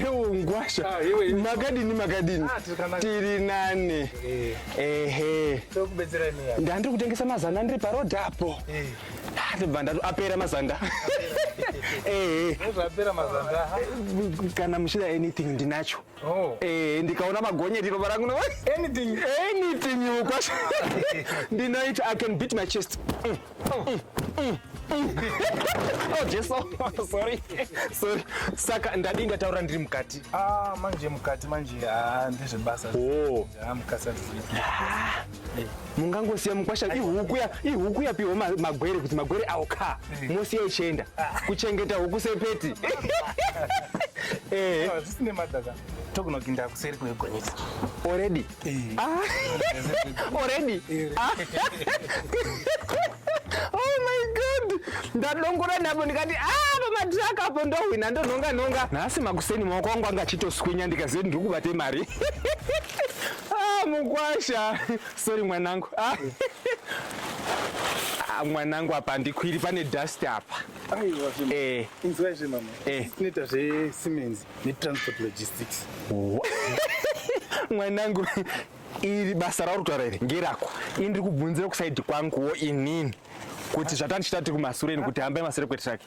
Ngwasha, ah, makadini makadini, ah, tiri nane. Eh. Ehe, ndandiri kutengesa mazana ndiri parodhi apo. Eh. Ah, ndibva ndati apera mazanda. Eh, eh. kana muchida anything ndinacho Oh. Eh, ndikaona magonyeti ropa rangu no anything anything you kwash. Ndinoita I can beat my chest. Mm. Oh. Mm. Mm. Mm. oh Jesu. Oh, sorry. Sorry. Saka ndadi ndataura ndiri mukati. Ah, manje mukati manje. Ah, ndezve basa. Oh. Ah, mukasa. Ah. mungangosiya mukwasha ihuku ya ihuku yapiwa ma- magwere kuti magwere awo ka mosiya ichienda kuchengeta huku sepeti Eh, Awa, zvisine madhaka togona kuinda kuseri kwegonyeti already Ah, already Ah. oh my god ndadongora napo ndikati ah pamatraka apo ndohwina ndonhonga nhonga nhasi makuseni maoko angu anga achitoswinya ndikaziva kuti ndiri kubate mari Ah, mukwasha. Sorry mwanangu. Ah. Ah, mwanangu apa ndikwiri pane dust apa. Aiwa zvema. Eh. Inzwa zve mama. Eh. Tinoita zve Siemens ne transport logistics. mwanangu iri basa rauri kutaura iri ngerako ini ndiri kubvunzira kusaidi kwanguwo inini kuti zvatandichita tiri kumasure ini kuti hambai masure kwetiraki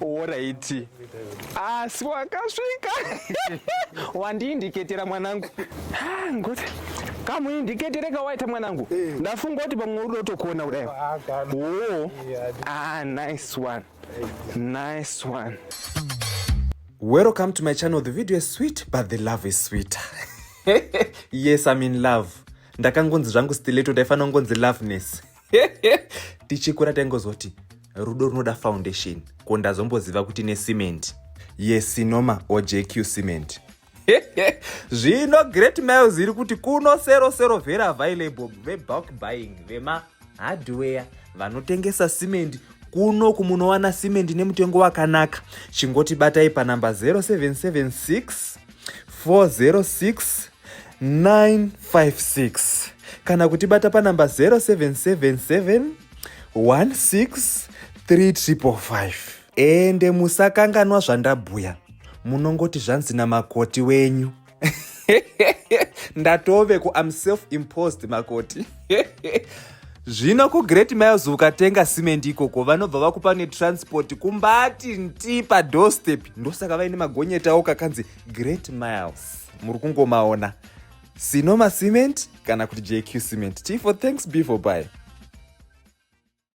oraiti asi wakasvika wandiindiketera mwanangu ah, ngoti kamuindiketere kawaita mwanangu eh. ndafunga kuti pamwe uri dotokuona kudai ah, o ah nice one nice one welcome to my channel the video is sweet but the love is sweeter yes i'm in love ndakangonzi zvangu stileto ndaifanira kungonzi loveness tichikura taingozoti rudo runoda foundation ko ndazomboziva kuti necement yesinoma ojq cement zvino great miles iri kuti kuno sero sero very available vebulk buying vema hardware vanotengesa cement kuno kumunowana cement nemutengo wakanaka chingoti batai panamba 0776 406 956 kana kutibata panamba 0777 16 3555 ende musakanganwa zvandabhuya munongoti zvanzi namakoti wenyu ndatove ku am self imposed makoti zvino kugreat miles ukatenga simendi ikoko vanobva vakupa netransport kumbati nti padorstep ndosaka vaine magonyetawo kakanzi great miles muri kungomaona sinoma cement kana kuti jq cement tifo thanks before by